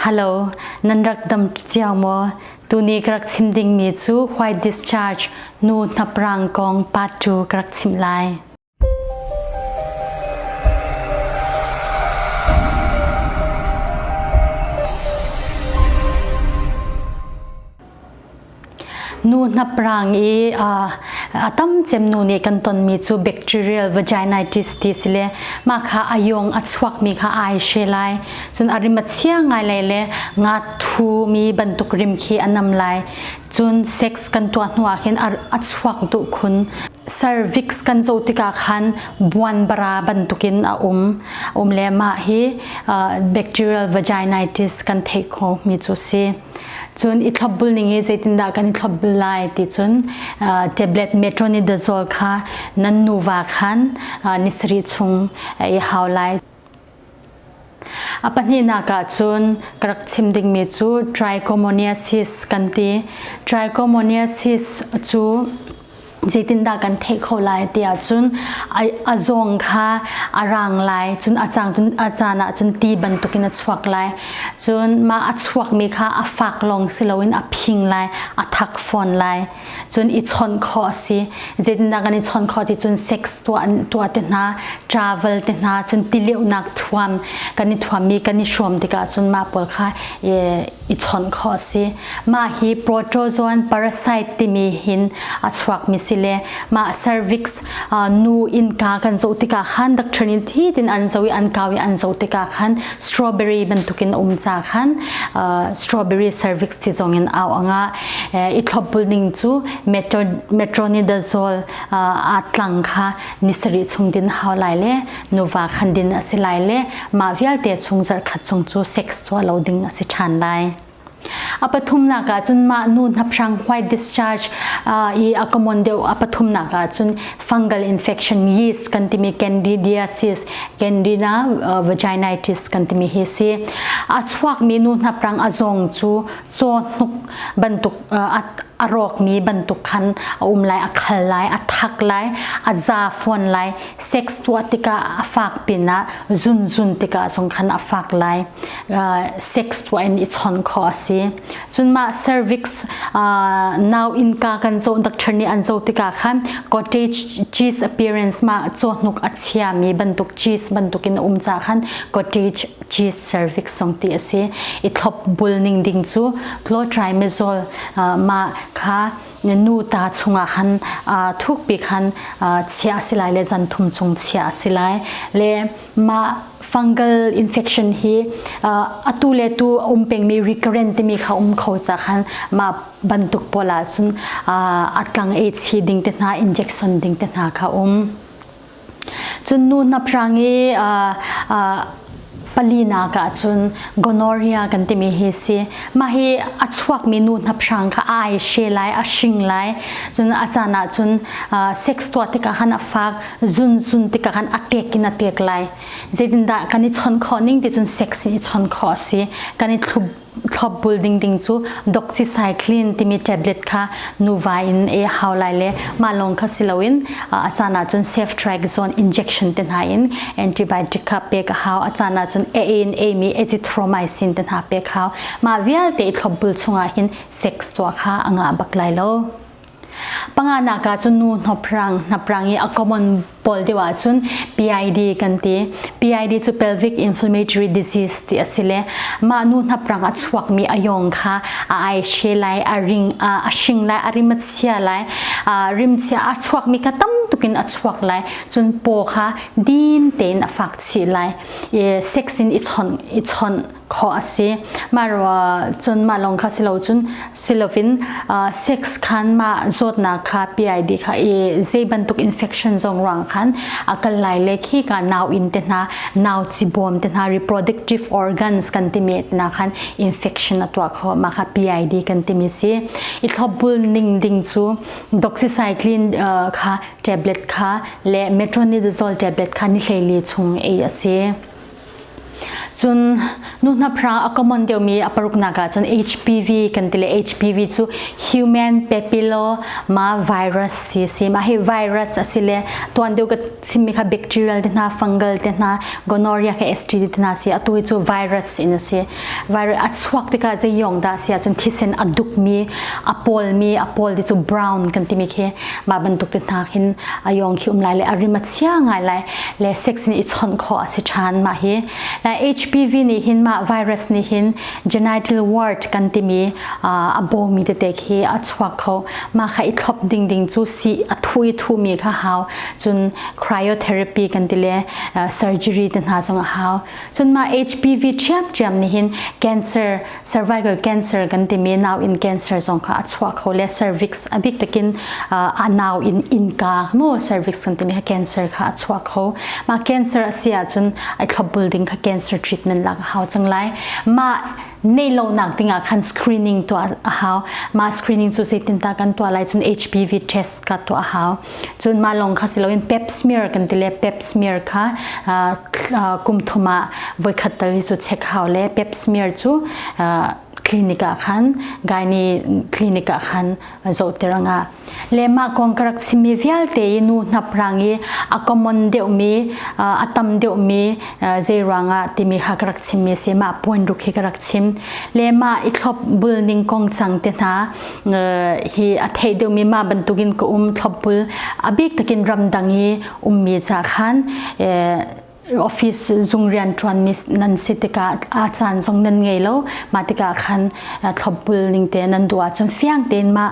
Hello, nan rak dam cio maw? Tuni ka rak chim dingmi cu white discharge nu hnaprang kong part 2 ka rak chim lai. nu hnaprang i a tam cem nu nih kan tonmi cu bacterial vaginitis ti si le mah kha a yong a chuakmi kha ai she lai cun a rim a chia ngai lai le nga thumi bantuk rim khi a nam lai cun sex kan tuah hnu ah khin a chuak du khun cervix kan zo tikah khan buanbara bantukin a um um le mah hi bacterial vaginitis kan theih kho mi cu si Cun i thlop bul ning i zeitindah kan i thlop bul lai ti cun tablet metronidazole kha nan nuva khan ni sarih chung i hau lai. A pahnihnak ah cun ka rak chim dingmi cu trichomoniasis kan ti. Trichomoniasis cu zeitindah kan theih kho lai ti ahcun a zawng kha a rang lai cun a caan cun a caan ah cun ti bantukin a chuak lai cun mah a chuakmi kha a fak lawng si loin a phing lai a thak fawn lai cun i chawnh kho a si zeitindah kan i chawnh kho ti cun sex tuah te hna travel te hna cun tileunak thuam kan i thuammi kan i hrawm tikah cun mah pawl kha i chawnh khawh a si. Mah hi protozoan parasite timi hin a chuakmi si le mah cervix nu innka kan zoh tikah khan dak ṭhen in thi tin an zoh i an kau i an zoh tikah khan strawberry bantukin um ca khan strawberry cervix ti zongin au anga i thlopbul ning cu metronidazole aa tlang kha ni sarih chung din hau lai le nuva khan din a si lai le mah vialte chung zarh khat chung cu sex tuah lo ding a si ṭhan lai. A pathumnak ah cun mah nu hnaphrang white discharge i a common deuh a pathumnak ah cun fungal infection yeast kan timi candidiasis candida vaginitis kan timi hi si a chuakmi nu hnaprang a zong cu caw hnuk bantuk a rawkmi bantuk khan a um lai a khal lai a thak lai a za fuan lai sex tuah tikah a fak pin ah zunzun tikah zong khan a fak lai sex tuah in i chon kho a si cun mah cervix now inka kan zo doctor nih an zo tikah khan cottage cheese appearance ma cawhnuk a chia mi bantuk cheese bantuk in um ca khan cottage cheese cervix song ti a si i thlop bul ning ding cu clotrimezol ma kha nu ta chungah khan thuk pi khan chiah a si lai le zan thum chung chiah a si lai le mah fungal infection hi atu le tu um pengmi recurrent timi kha um kho ca khan mah bantuk pawl ahcun a tlang ei chi ding te hna injection ding te hna kha um Cun nu hnaprang i palinak ahcun gonorrhea kan timi hi si. Mah hi a chuakmi nu hnaprang kha a ai she lai, a hring lai. Cun a caan ahcun sex tuah tikah khan a fak, zunzun tikah khan a kek in a tek lai. Zeitindah kan i chawnh khawh ning ti cun sex nih i chawnh khawh a si. Kan i thlup thlop bul ding ding cu doxycycline timi tablet kha nuva in ei hau lai le mah lawng kha si loin a caan ahcun safe triaxone injection te hna in antibiotic kha pek a hau a caan ahcun e in eimi azithromycin te hna pek hau mah vialte i thlop bul chungah hin sex tuah kha a ngah bak lai lo Panganak ah cun nu hnaprang hnaprang i a common pawl deuh ahcun PID kan ti. PID cu pelvic inflammatory disease ti a si le mah nu hnaprang a chuakmi a yawng kha a aishe lai, a ring a hring lai, a rim a chia lai, rim chia a chuakmi kha tam tuk in a chuak lai. Cun paw kha dim tein a fak chih lai. I sex in i chawnh i chawnh khawh a si mah ruah cun mah lawng kha si lo cun si loin sex khan mah zawtnak kha PID kha i zei bantuk infection zong ruang khan a kal lai le khi ka nau in te hna nau ci bawm te hna reproductive organs kan ti met na khan infection a tuah kho ma kha PID kan ti mi si i thlopbul ning ding cu doxycycline kha tablet kha le metronidazole tablet kha ni hlei li chung ei a si Cun nu hnaphra a common deuhmi a paruknak ahcun HPV kan ti le HPV cu human papillo ma virus ti a si. Mah hi virus a si le tuan deuh ka chimmi kha bacterial te hna, fungal te hna, gonorrhea ke STD te hna si. Atu hi cu virus in a si. Virus a chuak tikah zeiyong dah a si ahcun thisen a dukmi, a pawlmi, a pawl ti cu brown kan timi khi mah bantuk te hna khin a yong khi um lai le a rim a chia ngai lai le sex nih i chawnh khawh a si ṭhan mah hi lai HPV nih hin mah virus nih hin genital ward kan timi a bawmi tete khi a chuak kho mah kha i thlop ding ding cu si a thu i thumi kha hau cun cryotherapy kan ti le surgery te hna zong a hau cun mah HPV ṭhiamṭhiam nih hin cancer cervical cancer kan timi nau in cancer zong kha a chuah kho le cervix a bik takin a nau in inka mu cervix kan timi kha cancer kha a chuak kho ma cancer a si ahcun ai thlop building kha cancer treatment lak a hau cang lai ma nei lo nak ding ah khan screening tuah a hau ma screening cu zeitin ta kan tuah lai cun HPV test ka tuah a hau cun mah lawng kha siloin pep smear kan ti le pep smear kha kum thum ah voikhat tal hi cu check hau le pep smear cu clinic ah khan gaini clinic ah khan zohter nga le mah kong ka rak chimmi vialte i nu hnaprang i a common deuhmi a tam deuhmi zei ruangah timi ha ka rak chimmi si mah point ruk hi ka rak chim le mah i thlop bulning kong cang te hna hi a thei deuhmi ma bantukin ka um thlopbul a bik takin ramdang i ummi ca khan office zung rian ṭuanmi nan si tikah a caan zong nan ngei lo mah tikah khan thlopbul ning te nan duh ahcun fiang tein mah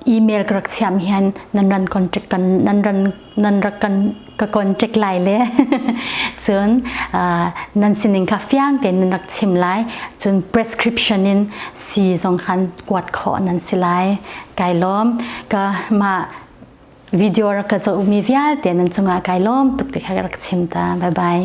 email ka rak chiam hian nan ran contact kan nan ran nan rak kan ka kon tek lai le cun nan sining kha fiang tein nan rak chim lai cun prescription in si zong khan kuat khawh nan si lai kai lom ka ma video ra ka zohmi vialte nan cungah kai lom tuk ti kha rak chim ta bye bye